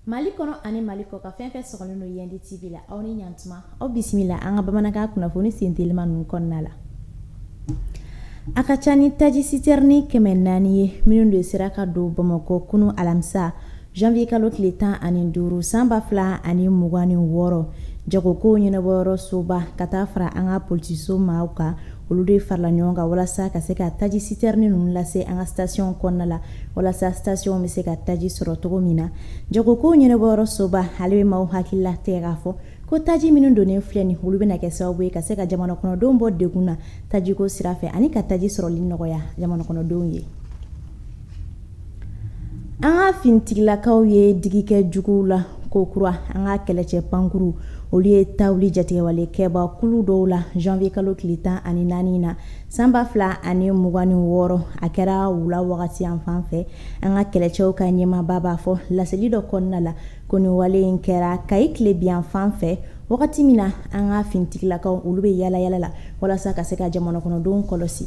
Mali kɔnɔ ani mali kɔkan fɛn fɛn sɔgɔlen n'o yandi TV la aw ni ɲantuma aw bisimila an ka bamanankan kunnafoni sen teliman ninnu kɔnɔna la a ka ca ni taji sitɛrini kɛmɛ naani ye minnu de sera ka don bamakɔ kunun alamisa Janvier kalo tile 15 san 2026 jagokow ɲɛnabɔyɔrɔsoba ka taa fara an ka politiso maaw kan, olu de farala ɲɔgɔn kan walasa ka se ka taji sitɛrini ninnu lase an ka station kɔnɔna la, walasa station bɛ se ka taji sɔrɔ cogo min na. Jagokow ɲɛnabɔyɔrɔsoba ale bɛ maaw hakili latigɛ k'a fɔ ko taji minnu donnen filɛ nin, olu bɛna kɛ sababu ye ka se ka jamanakɔnɔdenw bɔ degun na tajiko sira fɛ ani ka taji sɔrɔli nɔgɔya jamanakɔnɔdenw ye. an ka finitigilakaw ye digi kɛ juguw la ko kura an ka kɛlɛcɛ pankurun olu ye ta wuli jatigɛwale kɛba kulu dɔw la janvier kalo tile tan ani naani na san ba fila ani mugan ni wɔɔrɔ a kɛra wula wagati yan fan fɛ an ka kɛlɛcɛw ka ɲɛmaaba b'a fɔ laseli dɔ kɔnɔna la ko nin wale in kɛra kayi tilebin yan fan fɛ wagati min na an ka finitigilakaw olu bɛ yaala yaala la walasa ka se ka jamana kɔnɔdenw kɔlɔsi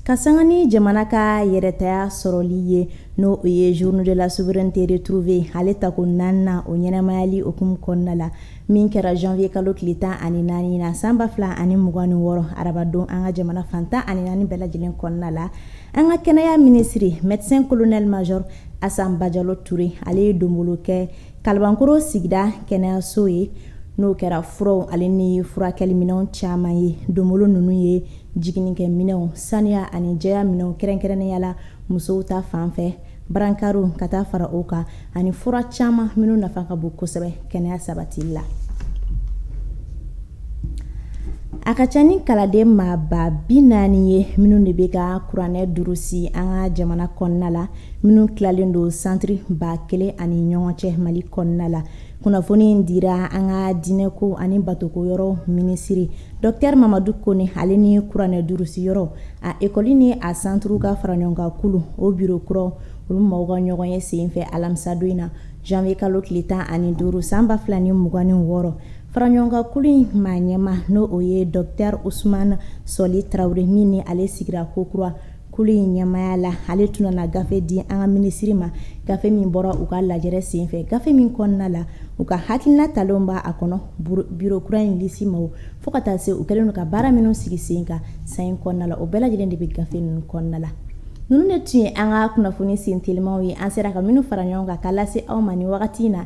ka sanga ni jamana ka yɛrɛtaya sɔrɔli ye n'o o ye journée de la souveraineté retrouvée ale tako naaninan o ɲɛnamayali hukumu kɔnɔna la min kɛra janvier kalo tile tan ani naani na san ba fila ani mugan ni wɔɔrɔ arabadon an ka jamana fan tan ani naani bɛɛ lajɛlen kɔnɔna la an ka kɛnɛya minisiri médecin colonel major asan bajalo ture ale ye donbolo kɛ Kalabankoro sigida kɛnɛyaso ye n'o kɛra furaw ale ni furakɛliminɛnw caman ye donbolo ninnu ye jigininkɛminɛnw saniya ani jɛya minɛnw kɛrɛnkɛrɛnnenya la musow ta fanfɛ barankaro ka taa fara o kan ani fura caman minnu nafa ka bon kosɛbɛ kɛnɛya sabati la a ka ca ni kalanden maa ba bi naani ye minnu de bɛ ka kuranɛ durusi an ka jamana kɔnɔna la minnu tilalen don santiri ba kelen ani ɲɔgɔn cɛ mali kɔnɔna la kunnafoni in dira an ka diinɛko ani batoko yɔrɔ minisiri docteur mamadu kone ale ni kuranɛ durusi yɔrɔ a ekɔli ni a santiri ka faraɲɔgɔnkankulu o biro kura olu maaw ka ɲɔgɔnye senfɛ alamisadon in na janvier kalo tile tan ani duuru san ba fila ni mugan ni wɔɔrɔ Faraɲɔgɔnkankulu in maa ɲɛmaa n'o o ye docteur usman sɔli tarawele min ni ale sigira ko kura kulu in ɲɛmaya la ale tun nana gafe di an ka minisiri ma gafe min bɔra u ka lajɛ senfɛ gafe min kɔnɔna la u ka hakilina talen b' a kɔnɔ biro kura in lisi ma fo ka taa se u kɛlen ka baara minnu sigi sen kan san in kɔnɔna la o bɛɛ lajɛlen de bɛ gafe ninnu kɔnɔna la ninnu de tun ye an ka kunnafoni sen telimaw ye an sera ka minnu fara ɲɔgɔn kan k'a lase aw ma nin wagati in na